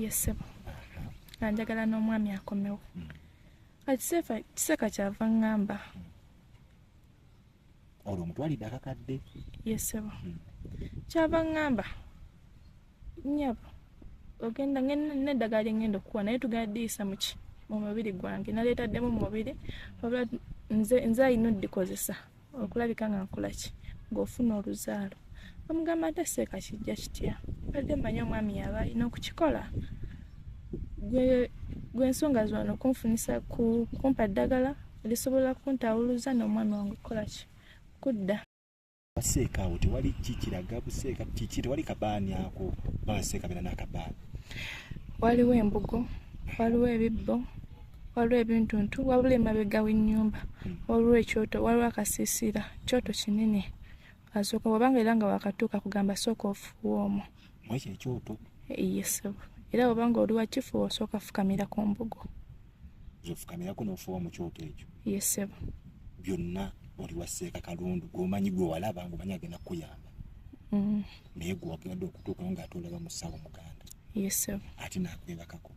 yesebo nga njagala n'omwami akomewo hmm. kiseeka kyava ŋŋamba hmm. olwo omutwalidde akakadde yesebo hmm. kyava ŋŋamba nyabo ogenda neddagala lyengenda okukuwa naye tugadiyisa muki mu mubiri gwange naleetaddemu mu mubiri wabula nze nze alina odikozesa okulabika nga nkolaki ng'ofuna oluzaalo amugamba ate seeka kijja kitya badde manya omwami yaba alina okukikola gwe ensonga zona okunfunisa kumpa ddagala lisobola kuntawuluza n'omwami wange okukolaki kudda baseeka awo tewali kikiraga buseeka kiki tewali kabaani ako babaseeka bena nakabaani waliwo embugo waliwo ebibbo waliwo ebintuntu wabula emabega w'ennyumba waliwo ekyoto waliwo akasiisira kyoto kinene asooka wabanga era nga wakatuuka kugamba sooka ofuuwa omwo mwekyo ekyoto yesebo era wabanga oli wakifuuwa osooka fukamira ku mbugo zofukamirako n'ofuuwa mu kyoto ekyo yesebo byonna oli waseeka kalundu gwomanyi gwe walaba nga omanyi agenda kukuyamba mm. naye gwe wagadde okutuukawo ng'ate olaba musawo muganda yesebo ate nakwebakako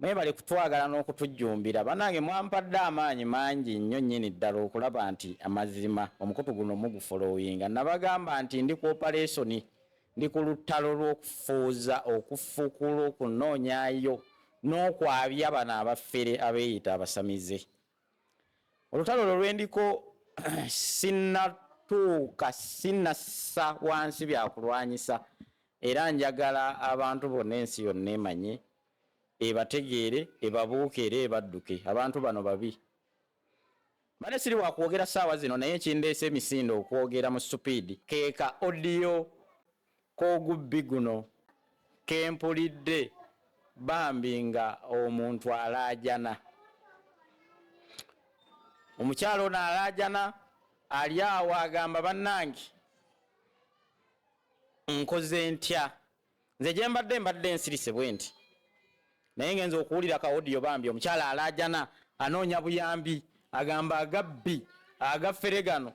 Mwebale kutwagala n'okutujjumbira banange mwampadde amaanyi mangi nnyo nnyini ddala okulaba nti amazima omukutu guno mugufolowinga. Nabagamba nti ndi ku opalesoni, ndi ku luttalo lw'okufuuza, okufukula, okunoonyayo n'okwabya bano abafere abeeyita abasamize. Olutalo olwo lwe ndiko sinnatuuka, sinnassa wansi byakulwanyisa era njagala abantu bonna ensi yonna emanye ebategeere ebabuuke era ebadduke abantu bano babi. Mbadde siri wakwogera saawa zino naye ekindeese emisinde okwogera mu supiidi ke ka audio k'ogubbi guno ke mpulidde bambi nga omuntu alaajana. Omukyala ono alaajana ali awo agamba bannange nkoze ntya nze gyembadde mbadde nsirise bwenti naye ngenza okuwulira ka audio bambi omukyala alaajana anoonya buyambi agamba agabbi agafere gano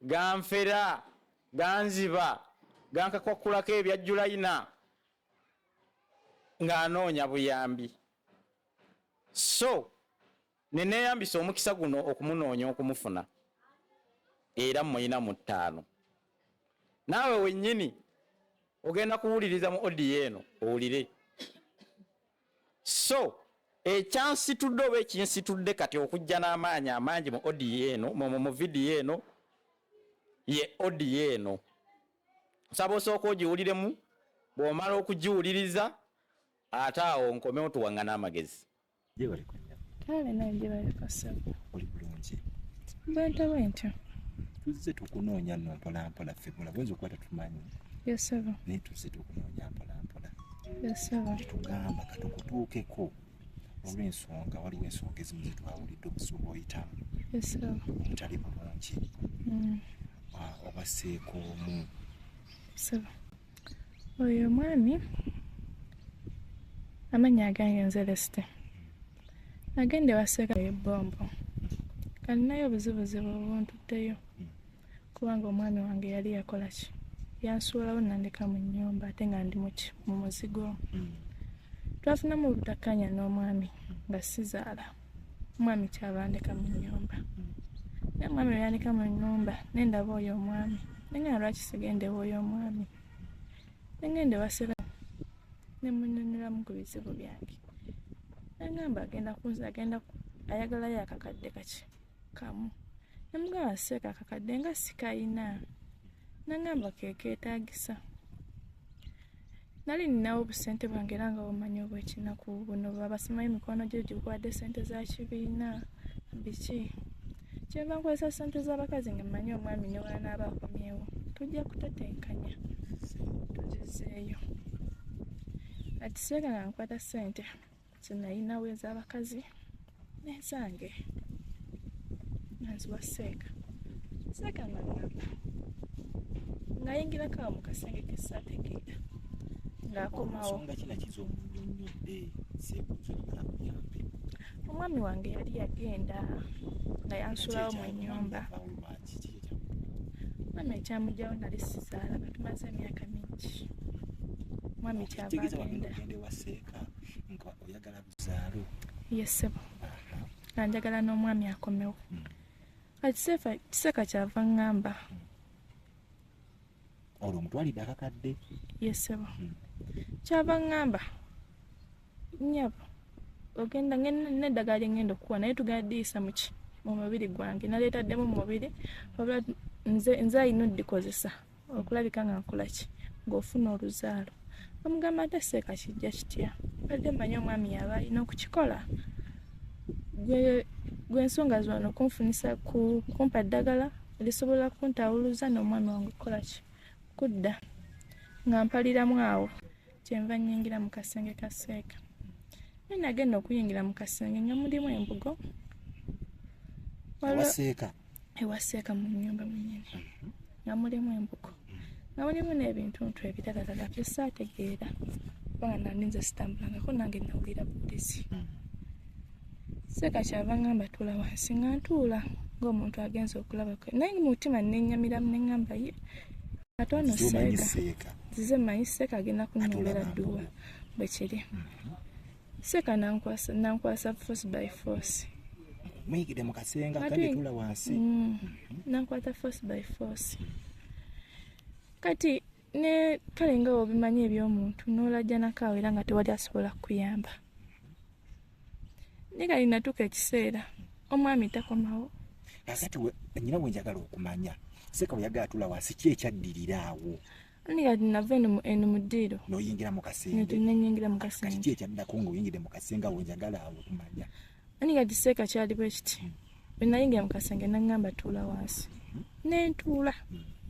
ganfera ganziba gankakwakulako ebya julayina ng'anoonya buyambi so Ne neeyambisa omukisa guno okumunoonya okumufuna era mmulina mu ttaano. Naawe wennyini ogenda kuwuliriza mu odiyo eno owulire. So ekyansitudde oba ekinsitudde kati okujja n'amaanyi amangi mu odiyo eno mu vidiyo eno ye odiyo eno. Nsaba osooka ogiwuliremu bw'omala okugiwuliriza ate awo nkomewo tuwaŋŋane amagezi. Gyebale ku nnyama. Kale nawe gyebale ku ssebo. Oli bulungi. Bwentyo bwentyo. Tuzze tukunoonya nno mpola mpola ffe bula bwenza okuba tatumanyi. Yes ssebo. Naye tuzze tukunoonya mpola mpola. Yes ssebo. Tetugamba katukutuukeko olw'ensonga waliwo ensonga ezimu zetwawulidde obusuuba oyitamu. Yes ssebo. Obutali bulungi. Mm. Ah, obaseeko omu. Ssebo. oyo omwami amannya agange nze lesite agenda ewaseeka ebombo kalinayo obuzibuzibu obuntutteyo kubanga omwami wange yali yakola ki yansuulawo nandeka mu nnyumba ate nga ndi muki mu muzigo twafunamu obutakkanya n'omwami nga sizaala omwami kyabandeka mu nyumba naye omwami lweyandika mu nyumba nendaba oyo omwami nengenda lwaki sigendewa oyo omwami nengenda ewasira nemunyonyoramu ku bizibu byange nengamba agenda kunza agenda ayagalayo akakadde kaki kamu namugamba seeka kakadde nga sikayina nangamba kekeetagisa nali ninawo obusente bwange era nga bumanya obwekinaku buno babasimayo emikono gyo gikuwadde sente za kibiina biki kyeva nkozesa sente z'abakazi nga mmanyi omwami ne wanaaba akomyewo tujja kutetenkanya tugizeeyo atiseera nga nkwata sente zinayinawo ezabakazi nezange nanziwa seeka seeka nangamba ngayingirako awo mukasenge kesategeera ngaakomawo omwami wange yali yagenda nga yansulawo mu nyumba mwami ekyamujawo nali sizaala batumaze emyaka mingi mwami kyava agenda nga oyagala buzaalo yesebo nga njagala n'omwami akomewo hmm. kiseeka kyava ŋŋamba hmm. olwo omutwalidde akakadde yesebo hmm. kyava ŋŋamba nyabo ogenda neddagala lyengenda okukuwa naye tugadiyisa muki mu mubiri gwange naleetaddemu mu mubiri wabula nze nze alina odikozesa okulabika nga nkolaki ng'ofuna oluzaalo amugamba ate seeka kijja kitya badde mmanyi omwami yaba alina okukikola gwe ensonga zona okunfunisa kumpa ddagala lisobola kuntawuluza n'omwami wange okukolaki kudda nga mpaliramu awo kyenva nyingira mu kasenge ka seeka naye nagenda okuyingira mu kasenge nga mulimu embugo ewaseeka ewaseeka mu nyumba mwenyini mhm. nga mulimu embugo nga mulimu n'ebintuntu ebirala lala bye saategeera kubanga nandi nze sitambulangako nange nawulira bulizi mhm. seeka kyava ngamba tuula wansi nga ntuula ng'omuntu agenza okulabako naye mu mutima nenyamiramu neŋamba ye ate ono seeka nzize manyi seeka agenda kunyombera dduwa bwe kiri mhm. seeka nankwasa force by force muyigide mu kasenga kandi tula wansi mm. mhm. nankwata force by force kati ne kale nga obimanyi ebyomuntu n'olajjanako awo era nga tewali asobola kukuyamba naye kali natuuka ekiseera omwami takomawo nakati nyina wenjagala okumanya seeka weyagala tula wansi ki ekyaddirira awo nigati nava eno mu ddiiro noyingira mu kasengenenyingira mu kasengekati ki ekyaddako ngaoyingidde mu kasenga wenjagala awo okumanya nigati seeka kyali bwe kiti hmm. bwe nayingira mu kasenge naŋŋamba tuula wansi nentuula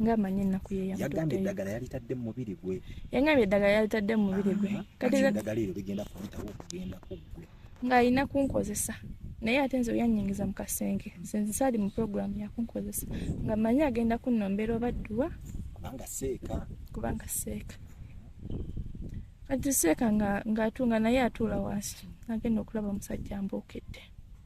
ng'amanyi ennaku yeyagambye eddagala yalitadde mu mubiri gwe yangambye eddagala yalitadde mu mubiri gwe katieddagala eryo ligenda kuyitawo okugenda ku gwe ng'alina kunkozesa naye ate nze oyanyingiza mu kasenge sinzi saali mu puroguramu yakunkozesa nga manyi agenda kunnombera oba dduwa kubanga seeka kubanga seeka kati seeka ng'atunga naye atuula wansi agenda okulaba omusajja mbuukedde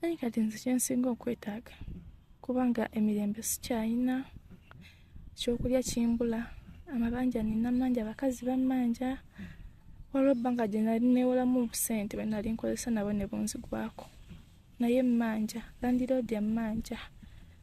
naye kati nze kyensinga okwetaaga kubanga emirembe sikyayina ekyokulya kimbula amabanja nina mangi abakazi bamanja waliwo ebbanga gye nali newolamu obusente bwe nali nkozesa nabo ne bunzigwako naye mmanja landiroodi emmanja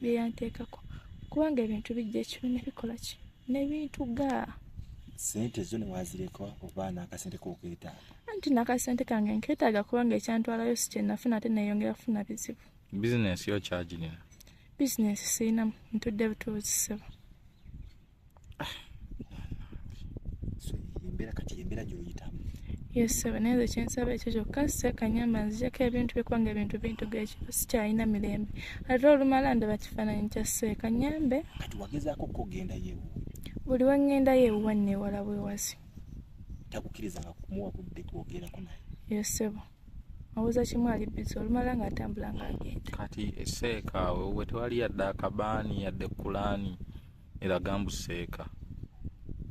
byeyanteekako kubanga ebintu bijja ekibi nebikola ki nebintu ga sente zo newazireka oba nakasente kokeetaaga anti nakasente kange nkeetaaga kubanga ekyantwalayo si kyenafuna ate neyongera kufuna bizibu bizinesi yo kyagirina bizinesi sirinamu ntudde butuuzi sebo embeera kati embeera gyoyitamu yesebe naye nze kyensaba ekyo kyokka sekanyamba nzijako ebintu bikubanga ebintu bintu gekiba sikyalina mirembe ate olumala ndaba kifaananyi kya sekanyambe kati wagezaako okugendayo buli wengendayo ewuwa newala bwewasi takukirizanga kumuwa budde kwogerako naye yesebo awoza kimu ali bizi olumala nga atambula nga agenda kati eseeka wewe tewali yadde akabaani yadde kulaani eraga mbu seeka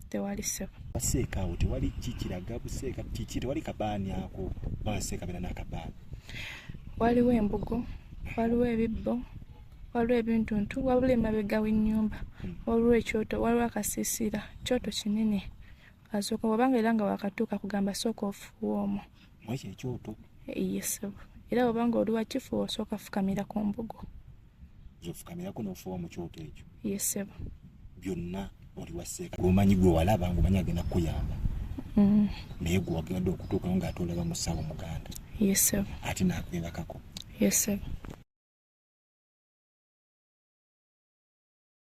tewali sebo baseeka awo tewali ki kiraga buseeka kiki tewali kabaani ako baseeka bera nakabaani waliwo embugo waliwo ebibbo waliwo ebintuntu wabula emabega w'ennyumba hmm. waliwo ekyoto waliwo akasiisira kyoto kinene asooka wabanga era nga wakatuuka kugamba sooka ofuuwa omwo mwekyo ekyoto eh, yesebo era wabanga oli wakifuwa osooka fukamira ku mbugo zofukamirako nofuwa mu kyoto ekyo yesebo byonna oli waseeka gwomanyi gwe walaba ngomanyi agenda kukuyamba mm. naye gwe wagenda okutuukawo nga ate olaba musawo muganda yesebo ate nakwebakako yesebo